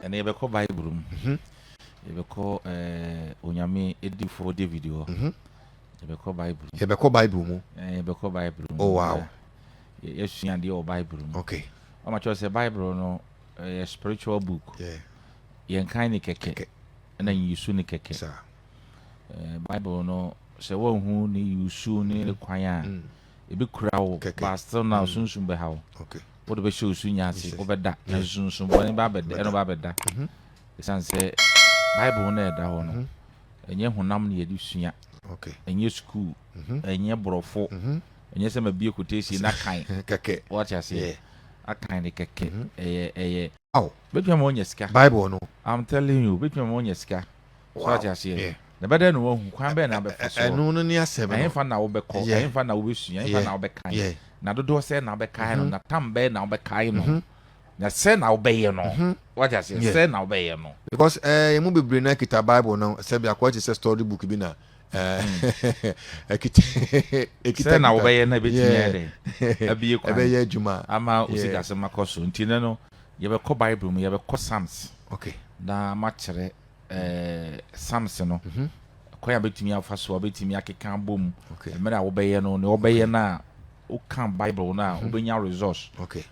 ɛnna yɛbɛkɔ bible mu mhm. yɛbɛkɔ eh, onyame edifoɔ david hɔ mhm. yɛbɛkɔ bible mu yɛbɛkɔ bible mu eh, yɛbɛkɔ bible mu oh wow yɛsua adeɛ wɔ bible mu okay ɔma kyerɛ sɛ bible no eh, yɛ spiritual book yɛnkan ne kɛkɛ ɛna nyisu ne kɛkɛ Bible no sɛ woanhu ne yusu ne ne kwan a mm. ebekura wo ba still na mm. sunsun bɛha wo wode bɛhyɛ wo su nya ase wobɛda na sunsun bɔne ba bɛda ɛno ba bɛda mhm. ɛsiane sɛ Bible no ɛda hɔ no mhm. ɛnyɛ honam na yɛde sua ɛnyɛ sukuu mhm. ɛnyɛ borɔfo ɛnyɛ sɛ mabie kotesie na kan wate aseɛ akan ne kɛkɛ ɛyɛ ɛyɛ bɛtumi ma ɔnya sika bible no i'm telling you bɛtumi ma ɔnya sika so ate aseɛ na bɛdɛ na wahu kwan bɛn na abɛfa so ɛno no ne asɛm no ɛhefa na wobɛkɔ ɛhefa na wobɛsua ɛhefa na wobɛkan na dodoɔ sɛ na wobɛkan no mhm. na tam bɛn na wobɛkan no mhm. na sɛ na wobɛyɛ no mhm. wate aseɛ sɛ na wobɛyɛ no because ɛɛ eh, mu bebree na kita bible no sɛ bi akɔ te sɛ story book bi na eh, hmm. ekita ekita sɛ na wobɛyɛ na ebetumi yɛ dɛ ɛbɛyɛ adwuma ama osikasɛm akɔ so nti ne no Yɛbɛkɔ Bible mu, yɛbɛkɔ Psalms, na makyerɛ Psalms no kwan a bɛtumi afa so a bɛtumi akeka abɔ mu, mmerɛ a wobɛyɛ no, nea wɔbɛyɛ no a woka Bible no a mhm. wobɛnya resource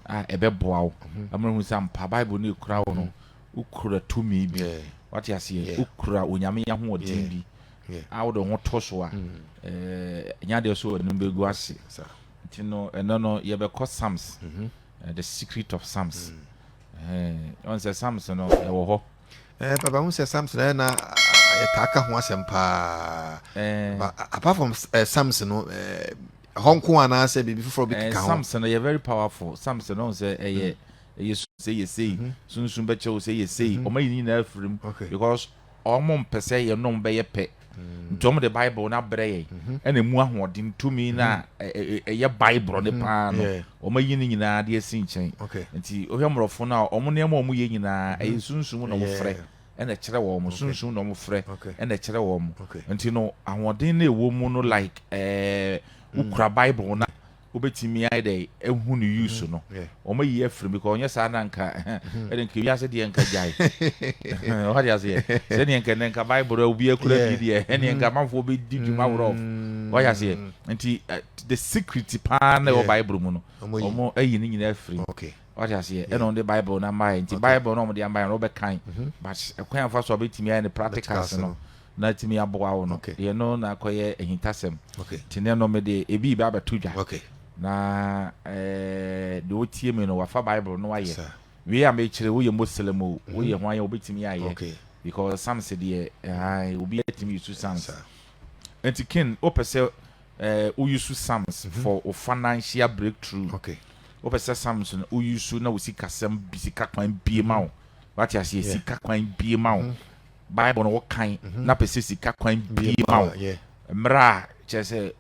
a ɛbɛboa wo mhm. ama hu sɛ mpa Bible no ɛkura wo no mhm. wokura tumi bi wate aseɛ wokura onyame ahoɔden bi a wode ho to so a ɛnya deɛ so anim bɛgu ase nti no ɛno no yɛbɛkɔ Psalms eh, the secret of psalms ɔn sɛ psalms no ɛwɔ hɔ eh, papa hu sɛ psalms no ɛna yɛtaa ka ho asɛm paa apart from eh, psalms no eh, ɛhɔ nko anaasɛ biribi foforɔ bi keka ho psalms no yɛ very powerful psalms no ɔn sɛ ɛyɛ mm. ɛyɛ sɛ yɛ sei mhm. sunsun bɛkyɛ wo sɛ yɛ sei mhm. ɔma yi nyinaa afirim because wɔmpɛ sɛ yɛne wɔn bɛyɛ pɛ, nti wɔde Bible no abrɛ yɛn, mhm. ɛna emu ahoɔden tumi no a mhm. ɛyɛ Bible no mhm. paa no, wɔayi no nyinaa de asi nkyɛn. Nti wohwɛ mmorɔfo no a, wɔn nneɛma a wɔyɛ nyinaa, ɛyɛ sunsum na wɔfrɛ ɛna ɛkyerɛ wɔn sunsum na wɔn frɛ ɛna ɛkyerɛ wɔn nti no ahoɔden na ɛwɔ mu no like ɛɛ wokura bible na Wobɛtumi ayɛ dɛn ahu no use no? Wɔayi afiri mu because ɔnyɛ saa na nka ɛde nka wiase deɛ nka gyae. Wate aseɛ? Sɛdeɛ nka ɛnɛ nka Bible no obiara kura bi deɛ ɛneɛ nka amanfoɔ bɛdi dwuma worɔ. Wate aseɛ? Nti the secret paa na ɛwɔ Bible mu no wɔn ayi ne nyinaa afiri mu. Wate aseɛ? Ɛna wɔn de Bible no amaeɛ nti Bible no wɔn de amaeɛ no wɔbɛkan but ɛkwan afa so a bɛtumi ayɛ no practicals no na atumi aboa wo no, yɛ no na akɔyɛ ahintasɛm. Nti ne no mede ebi reba abɛto dwa. Na eh, deɛ ɔtie me no, wafa Bible no ayɛ. Wei a mekyerɛ woyɛ Muslim o, mhm. woyɛ hwan a wobɛtumi ayɛ. Because Psalms deɛ, eh, obi atumi yusu Psalms. Nti Ken, wopɛ sɛ eh, woyusu Psalms mhm. for wo financial breakthrough. Wopɛ sɛ Psalms no woyusu na wo sikasɛm bi sika kwan bie ma wo. Mhm. Wate aseɛ, sika kwan bie ma wo. Bible no wo kan na pɛ sɛ sika kwan bie ma wo mmerɛ a kyerɛ sɛ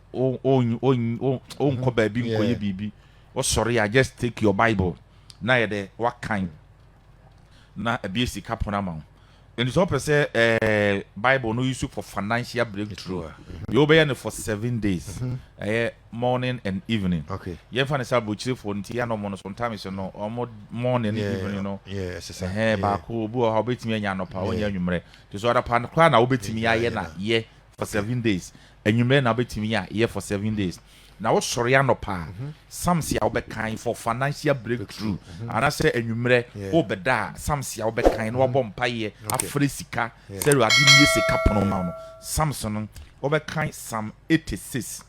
wonkɔ baabi nkɔyɛ biribi wosɔre a just take your Bible na yɛ dɛ wakan na abie sika pono ama wo ɛnti sɛ wopɛ sɛ eh, Bible no use for financial breakthrough yɛ wobɛyɛ no for seven days ɛyɛ morning and evening okay yɛn fa ne sɛ aburokyirefo nti yɛn na wɔn no sometimes no wɔn morning ne evening no ɛhɛn baako obi wɔ hɔ obetumi anya anɔpa onya anwummerɛ te so anɔpa no koraa na obetumi ayɛ na yɛ for seven days anwummerɛ na obetumi a yɛ for seven days na wosɔre anɔpa a mhm. samsi a wobɛkan for financial breakthrough mhm. anaasɛ anwummerɛ wobɛda a samsi a wobɛkan na wabɔ mhm. mpaeɛ afrɛ sika sɛ ade nie sika pono ma no samson no wobɛkan sam 86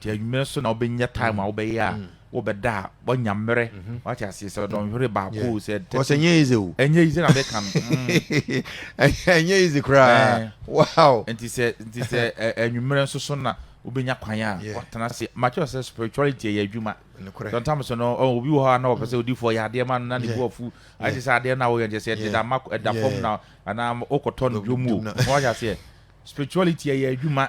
Nti anwumerɛ nso na wobɛnya time a wobɛyɛ a wobɛda a woanya mmerɛ wate aseɛ sɛ dɔnhwere baako o sɛ Because ɛnyɛ easy o ɛnyɛ easy na meka no ɛnyɛ easy koraa wow nti sɛ nti sɛ anwumerɛ nso so na wobɛnya kwan a watena ase makyerɛ sɛ spirituality ɛyɛ adwuma sɔntam so no obi wɔ hɔ a na wɔpɛ sɛ odifoɔ yɛ adeɛ ma no na ne bu afu ayɛ sɛ adeɛ no a woyɛ nkyɛ sɛ ɛde da ma ɛda fam na anaa wokɔtɔ no dwom o na wayɛ aseɛ spirituality ɛyɛ adwuma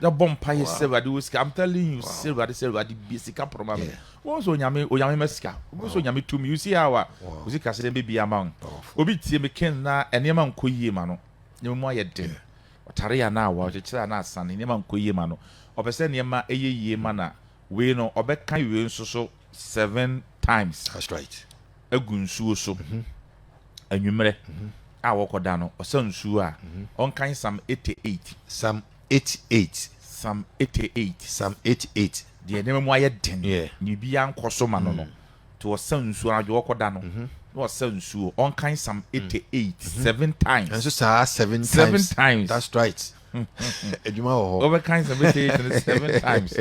na bɔ mpa yɛ sɛ awurade wɔ sika i'm telling you sɛ awurade sɛ awurade bie sika pɔrɔ ma mi wɔn sɛ onyame onyame ma sika wɔn sɛ onyame tum you see how a o sika sɛ ɛbɛ bi ama wɔn obi tie mi ken na nneɛma nkɔ yie ma no nneɛma mu ayɛ den ɔtare yɛ anaa awa ɔkyekyere anaa asan nneɛma nkɔ yie ma no ɔpɛ sɛ nneɛma ɛyɛ yie ma na wei no ɔbɛka wei nso so seven times that's right gu nsuo so anwummerɛ a wɔkɔda no ɔsa nsuo a, ɔnkan Psalm 88. Psalm 88. Psalm 88. Psalm 88. Deɛ nneɛma mu ayɛ den, yeah. na biribiara nkɔ so ma no no, nti mm. ɔsa nsuo anadwo wɔkɔda no. Mm-hmm. na ɔsa nsuo ɔnkan Psalm 88 mm. mm-hmm. seven times. Ɛnso saa seven times. Seven times. That's right. Adwuma wɔ hɔ. Wɔbɛkan Psalm 88 seven times.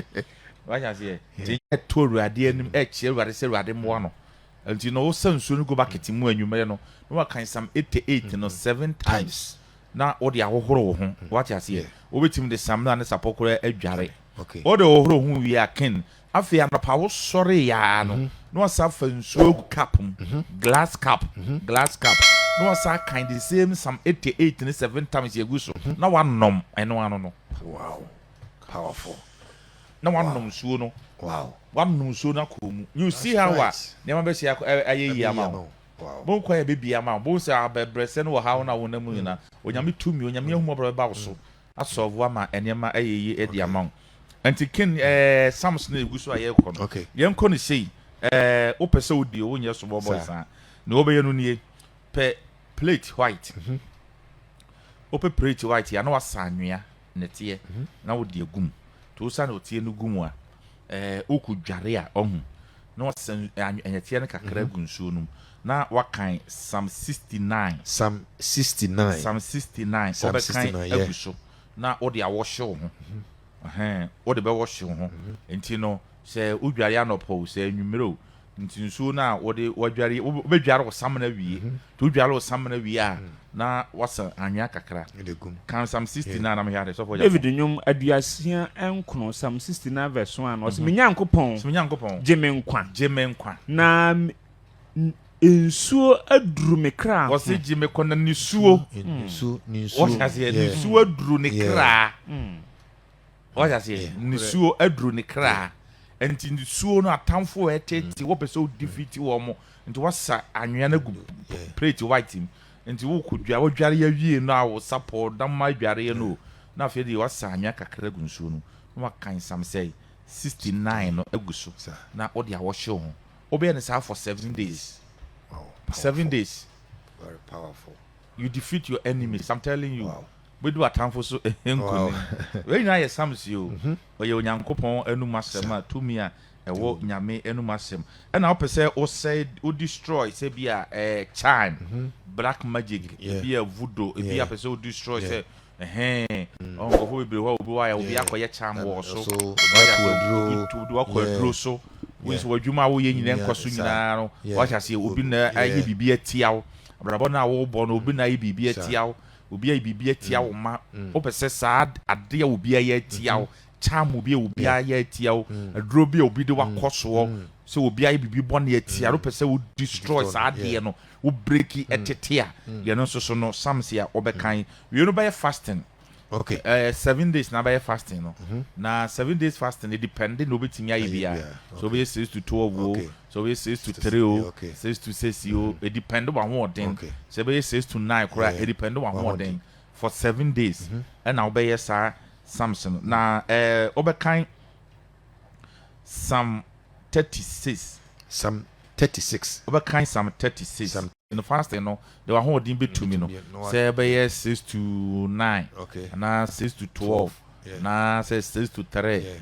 Wáyà seɛ. Ti yɛ to awurade anim ɛkyerɛ awurade sɛ awurade mmoa no. Mm-hmm. Nti na ɔsa nsuo no gu bakɛte mu anwummerɛ no na waka Psalm 88 no seven times na wode ahohoro wo ho. Wate aseɛ? Wobɛtumi de Psalm no a ne sapɔ koraa adware. Wode hohoro wo ho wie a, ken. Afei anɔpa wosoreeɛ ara no, na wasan afa nsuo agu cup mu, glass cup, glass cup, na wasan akan the same Psalm 88 no seven times agu so na wanom. Ɛno ano no. Wow. Powerful. na wanom nsuo no wanom nsuo no akɔ mu you see how a nneɛma bɛsi ayɛ yie ama wo mo kwan ɛbɛbie ama wo bohu sɛ abɛbrɛsɛ no wɔ haw no a wonam mu nyina onyame tumi onyame ahumɔborɔ bɛba wo so asɔlvo ama nneɛma ayɛ yie ɛde ama wo nti ken ɛɛ sams no ɛgu so a yɛkɔ no yɛnkɔ no sei ɛɛ wopɛ sɛ wodi o wonyɛ so bɔbɔ saa ne wɔbɛyɛ no nie pɛ plate white wopɛ plate white a na wasa anwea ne teɛ na wode agu mu nti wosa na ɔteɛ no gu mu a ɛɛ woku dware a ɔhu na wasan ɛnyɛteɛ no kakra mhm. gu nsuo no mu na wakan sam 69 sam 69 sam 69 wobɛkan agu so na wode awɔhye wo ho mhm. wode bɛwɔhye wo ho mhm. nti no sɛ wodware anɔpɔ o sɛ anwummerɛ o Nti nsuo no a wode wadware, wobɛdware wo samena wie. Nti wodware wo samena wie a, na wasa anwea kakra. Kan Psalm 69 na mehwɛ ade, sɔfo Gyafo. David nnwom aduasia nkron, Psalm 69 verse 1, ɔse, Me Nyankopɔn, So me Nyankopɔn, gye me nkwa, gye me nkwa. na nsuo aduru me kra ho. Ɔse gye me kɔ na nisuo, Nisuo, nisuo. wɔhyɛ aseɛ, Yeah. nisuo aduru ne Yeah. kra. Wate aseɛ? Nisuo aduru ne kra. Nti nisuo no atamfo ɛɛtete wɔ pɛ sɛ wo defeat wɔn. Nti wasa anwea no agu plate white mu. Nti wo kɔ dwa, wo dware awie no a wo sapɔw na ma adwareɛ no o. Na afei deɛ wasa anwea kakra agu nsuo no na waka nsam sɛɛ 69 no agu so na wode awɔhye wo ho. Wobɛyɛ no saa for seven days. Seven days. You defeat your enemies. I'm telling you. Wobɛdi w'atamfo so nkonim. Wei nyinaa yɛ Psalms yi o. Ɔyɛ Onyankopɔn anom asɛm a tumi a ɛwɔ Nyame anom asɛm. Ɛna wopɛ sɛ wosɛe, wo destroy sɛ bi a ɛɛ charm, black magic, bi a voodoo, bi a pɛ sɛ wo destroy sɛ ɛhɛn. Ɔn nkurɔfoɔ bebree hɔ a obi wayɛ, obi akɔyɛ charm wɔ so, wayɛ aseɛ obi wakɔ aduro so. Wo nso w'adwuma a woyɛ nyinaa nkɔ so nyinaa no, wate aseɛ obi na ayɛ biribi atia wo. Abrabɔ no a wobɔ no obi na ayɛ biribi atia wo. obi ayɛ biribi atia wo ma wopɛ sɛ saa ade a obi ayɛ atia wo charm bi a obi ayɛ atia wo aduro bi a obi de wakɔ soɔ sɛ obi ayɛ biribi bɔne atia no wopɛ sɛ wo destroy saa adeɛ no wo breki ɛtete a yɛno nso so no sam si a wɔbɛkan wei no bɛyɛ fasting okay uh, seven days na bɛyɛ fasting no mm -hmm. na seven days fasting no depende na obetumi ayɛ bia so obɛyɛ six to twelve o okay. sɛ ɔbɛyɛ six to three o, six to six o, ɛdipɛnde w'ahoɔden, sɛ ɛbɛyɛ six to nine koraa ɛdipɛnde w'ahoɔden for seven days ɛna mhm. wobɛyɛ saa sums no na ɛɛ wobɛkan sam thirty six. sam thirty six. wobɛkan sam thirty six. no fasting no de w'ahoɔden bɛtumi no sɛ ɛbɛyɛ six to nine anaa six to twelve anaa sɛ six to three.